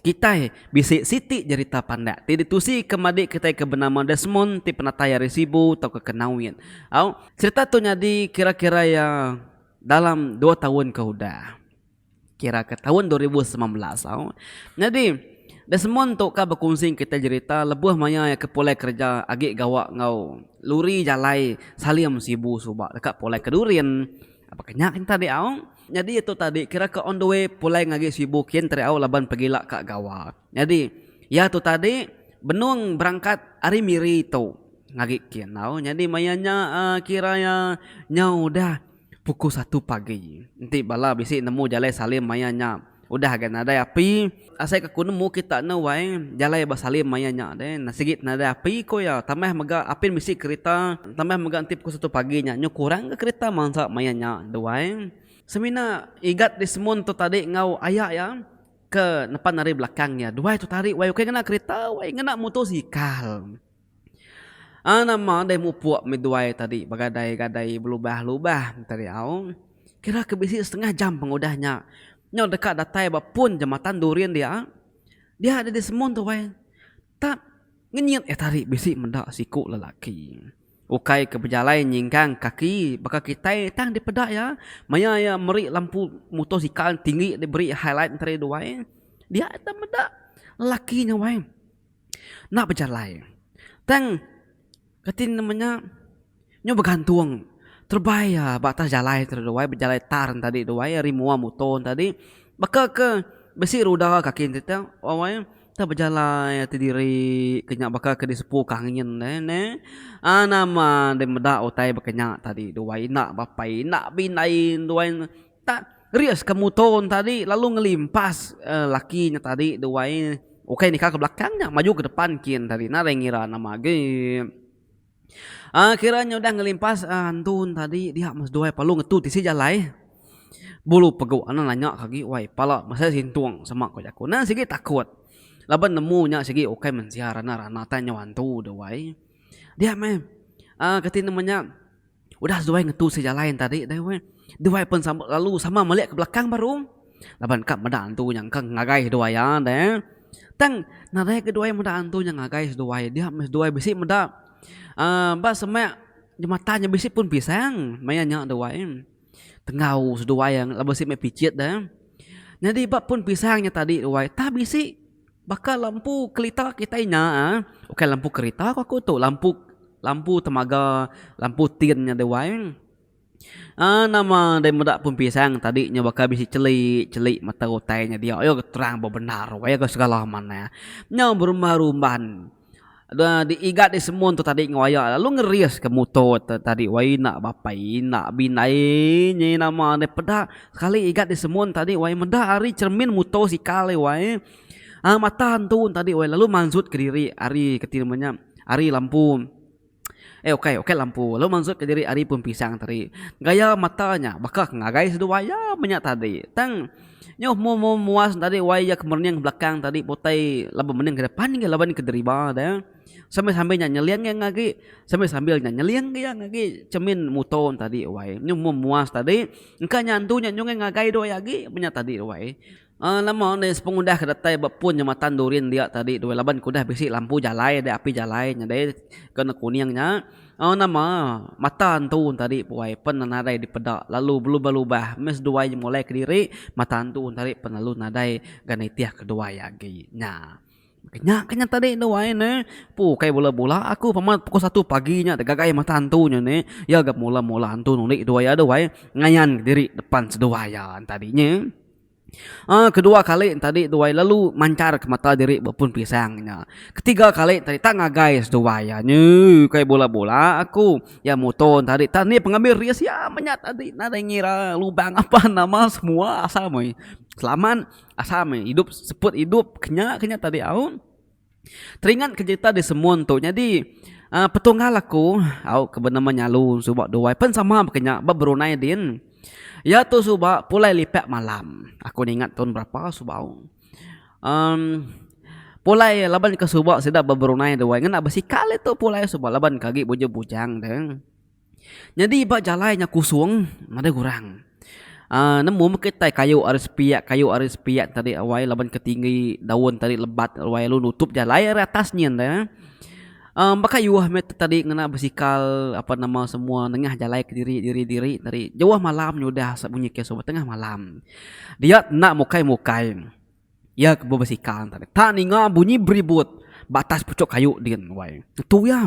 Kitai bisi siti jerita pandak ti ditusika meba adik kitai ke benama Desmond ti penatai ari Sibu tauka ke Nawit. Au, cherita tu nyadi kira-kira iya dalam dua taun ke udah. Kira ke taun dua ribu semilan belas. Au, nyadi Desmond tu ka bekunsi enggau kitai jerita lebuh maya iya ke pulai kereja agi gawa enggau luri jalai Salim Sibu suba deka pulai ke Durin. Baka nya kenta dih au. Nyadi itu tadi kira ka on the way pulai ngagi Sibu kin Teriau laban pegila ka gawa. Nyadi iya tu tadi benung berangkat ari Miri tu ngagi kin tau. Nyadi maya nya uhh kira iya nya udah pukul satu pagi. Enti bala bisi nemu jalai Salim maya nya. Udah ga nadai api, asai ka ku nemu kita enda wai jalai ba Salim maya nya deh. Nah sigi nadai api ku iya, tambah mega apin bisi kerita, tambah mega enti pukul satu pagi nya nyuh kurang ga kerita mansa maya nya deh wai. Semina Igat Desmond tu tadi enggau aya iya ke nepan ari belakang iya, duai tu tadi wai ukai ngena kerita wai ngena mutosikal. Aa nama deh mupuk meh duai tadi begadai-gadai belubah-lubah enti ari au. Kira ke bisi setengah jam pengudah nya. Nyau deka datai ba pun jematan Durin dia. Dia deh disemun tu weh. Tap ngenyit eh tadi bisi meda siku lelaki. Ukai ke bejalai nyingkang kaki baka kitai tang dipeda iya. Maya iya meri lampu mutosikal tinggi diberi highlight enti ari duai. Dia tang meda lelaki nya weh. enda bejalai. Tang kati nama nya nyu begantung terebai iya ba atas jalai tu dulu ai bejalai tar tadi tu ai ari mua muto tadi baka ke bisi ruda kaki enti tu wai kita bejalai ati diri ke nya baka ke disepu ke angin ne neh ai nama deh meda utai bakanya tadi duai enda bapai enda bindai duai. Tak rias ke mutor nya tadi lalu ngelimpas laki nya tadi duai ukai nika ke belakang nya maju ke depan kin tadi nadai ngira nama agi kira nya udah ngelimpas antu tadi dia meh seduai palu ngetu tisi jalai bulu pegu anan nanya ka agi wai pala mesai sintung sema ku jaku nan sigi takut laban nemu nya sigi ukai mensia rana-rana tai nyau antu duai dia meh kati nama nya. Udah zuai ngetu sia jalai enta ri deh weh. Duai pen sambut lalu sama melek ke belakang baru. Laban ka meda antu nya engka ngagai seduai iya deh. Tang nadai ke duai meda antu nya ngagai seduai dia meh seduai bisi meda uhh ba semak jematan nya bisi pun pisang maya nya duai. Tenggau seduai laban si meh picit deh. Nyadi ba pun pisang nya tadi duai tah bisi. Baka lampu kelita kitai nya ukai lampu kerita ku aku tu lampu lampu temaga lampu tin nya deh wai uhh nama deh meda pun pisang tadi nya baka bisi cheli cheli mata utai nya dia terang bebendar wayah ke segala manah nya berumah rumban. Diigat disemun tu tadi ngeroyak lalu ngeriska muto tu tadi wai enda bapa enda bina ye nyai nama ne peda sekali igat disemun tadi wai meda ari cermin muto sikal e wai mata entu tadi wai lalu manjut kediri ari kati nama nya ari lampu. Eh ukai, ukai lampu. Lalu mansut ka diri ari pun pisang tadi. Gaya mata nya baka ke ngagai seduai iya menya tadi. Tang nyuh mu mu muas tadi wai iya ke merening belakang tadi pun utai laban mening ke depan agi laban ke deriba deh. Sambil-sambil nya nyeling iya ngagi, sambil-sambil nya nyeling iya ngagi cermin muto tadi wai. Nyuh mu muas tadi engka nya antu nya nyungai ngagai duai agi menya tadi wai. Nama undi sepengudah ke datai ba pun jematan Durin dia tadi tu laban ke udah bisi lampu jalai deh api jalai nyadai ke warna kuning nya nama mata antu tadi puai pen nadai dipeda lalu belubah lubah meh seduai je molai kediri mata antu tadi pen lalu nadai ga nitih keduai agi nya nya ke nya tadi duai ne pu kai bula bula aku pama pukul satu pagi nya tegagai mata antu nya ne iya ga mula mula antu undi ke duai iya duai ngayan diri depan seduai iya tadi nye. Kedua kali enti tadi tuai lalu manchar ke mata diri ba pun pisang nya. Ketiga kali tadi tak ngagai seduai iya nyi ukai bola-bola aku. Iya muto tadi tak nia pengambi risk iya menyat tadi nadai ngira lubang apan nama semua asal meh selamat asal meh idup seput idup ke nya ke nya tadi au. Teringat ke cerita di semun tu nyadi uhh petunggal aku au ke benama nyalu suba duai pen sama ba kinya ba brunei din iya tu suba pulai lipak malam aku ningat tun berapa suba au uhh pulai laban ke suba sida ba brunei duai ngena besikal itu pulai suba laban ke agi bujur bujang deh. Nyadi ba jalai nya kusung nadai gurang. Aaa nemu meh kitai kayu ari sepiak kayu ari sepiak tadi wai laban ke tinggi daun tadi lebat wai lalu nutup jalai ari atas nyin deh. Aaa baka yuh meh tu tadi ngena besikal apa nama semua nengah jalai kediri diri diri tadi. Jauh malam nya udah sebunyi keso tengah malam. Dia enda mukai mukai. Iya ke bebesikal tadi. Tak ninga bunyi beribut ba atas pucuk kayu din wai. Ngetu iya.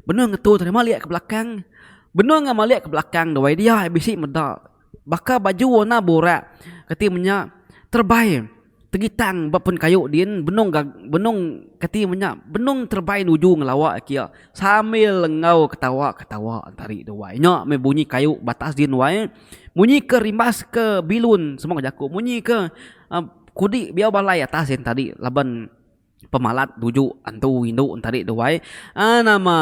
Benung ngetu tadi malik ke belakang. Benung iya malik ke belakang dawai dia bisi meda baka baju warna borak kati menya terebai tegitang ba pun kayu din benung ga benung kati menya benung terebai nuju ngelawa aki iya sambil enggau ketawa-ketawa tadi dawai. Nya meh bunyi kayu ba atas din wai. Munyi ke rimbas ke bilun semua ke jaku munyi ke kudi biau balai atas en tadi laban pemalat tuju antu indu tadi duai nama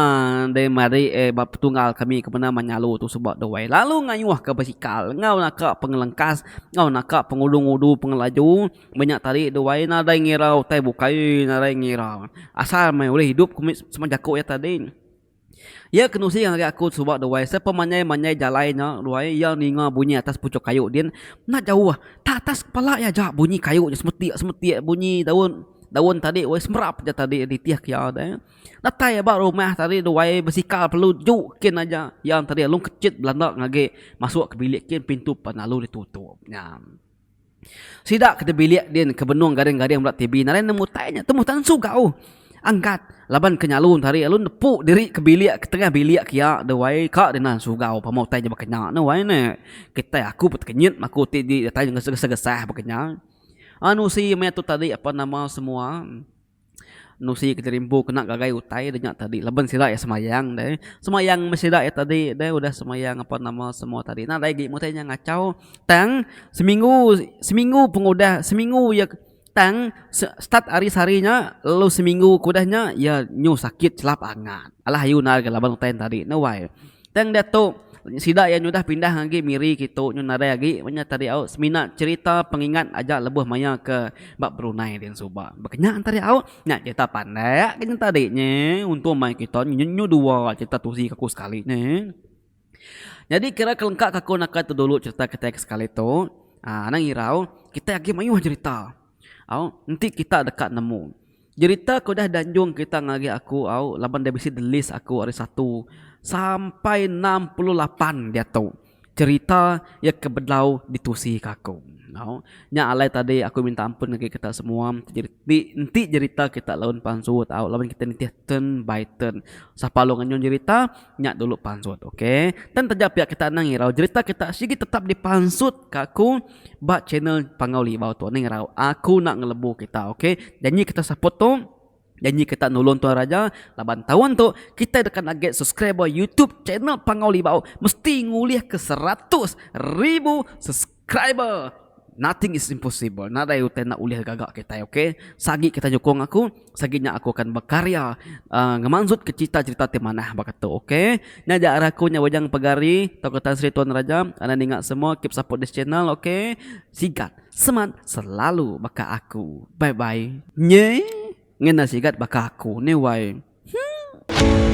deh mari eh ba petunggal kami kemina menyalu tu suba duai lalu ngayuh ka basikal enggau naka pengelengkas enggau naka pengudu-ngudu pengelaju menya tadi duai nadai ngira utai bukai nadai ngira asal meh ulih idup ke meh semua jaku iya tadi. Iya ke nusi ngagai aku suba duai sepemanjai-manjai jalai nya duai iya ninga bunyi atas puchuk kayu din enda jauh tak atas kepala iya aja bunyi kayu nya semetik-semetik bunyi daun daun tadi weh semerap ja tadi nitih ke iya deh datai ba rumah tadi duai besikal perlu ju kin aja iya tadi alung kechit belanda ngage masuk ke bilik kin pintu depan lalu ditutup nya. Sida ke ti bilik din ke benung garing-garing meda TV nadai nemu utai nya temu tansu gau angkat laban ke nyalu enti hari lalu nepu diri ke bilik ke tengah bilik ke iya deh wai ka deh tansu gau pama utai nya baka nya neh wai neh kitai aku pun tekenyit maku ti di datai ngeseh-ngeseh gesah baka nya anusi meh tu tadi apan nama semua. Nusi ketirimpu kena ngagai utai de nya tadi laban sida iya semayang deh. Semayang meh sida iya tadi deh udah semayang apan nama semua tadi. Nadai agi meh utai nya ngachau tang seminggu seminggu pengudah seminggu iya tang start ari sehari nya lalu seminggu ke udah nya iya nyu sakit chelap angat. Alah ayu nal laban utai nya tadi neh wai. Tang diatu, sida iya nyudah pindah agi Miri kitu nyu nadai agi ba nya Tari Aut semina cherita pengingat aja lebuh maya ke ba Brunei dian suba. Ba kenya Tari Aut, nya cherita pandak ke nyentah diri nya untung mai kita nyu dua cherita tuzi ke aku sekali nya. Nyadi kira ke lengka ke aku naka tu dulu cherita kitai ke sekali tu aaa anang irau kitai agi mayuh cherita au enti kita deka nemu. Jerita ke udah dianjung kita ngagai aku au laban dia bisi di list aku ari satu sampai enam puluh lapan diatu jerita iya ke bedau ditusi ke aku. Au, nya alai tadi aku minta ampun ngagai kita semua ti enti jerita kita lalu empansu tau laban kita nitih turn by turn. Sapa lalu nganyung jerita. Nya dulu pansut ok. Tan taja pia kita anang irau jerita kita sigi tetap di pansut ka aku ba channel Panggau Libau tu anang irau. Aku nak ngelebu kita ok. Janji kita support tu Janji kita nulung tuan raja laban taun tu kita deka naget subscriber YouTube channel Panggau Libau mesti ngulih ke seratus ribu subscriber. Subscriber Nothing is impossible Nadai utai enda ulih gaga kitai ok Sagi kitai nyukung aku Sagi nya aku akan bekarya uhh Ngemanjut ke cerita cerita ti manah baka tu ok Nya ja ari aku nya Wayang Pegari Tauka Tan Sri Tuan Raja Anda ninga semua keep support this channel ok Sigat semat selalu baka aku Bye bye Nye ngena sigat baka aku ni wai Huh.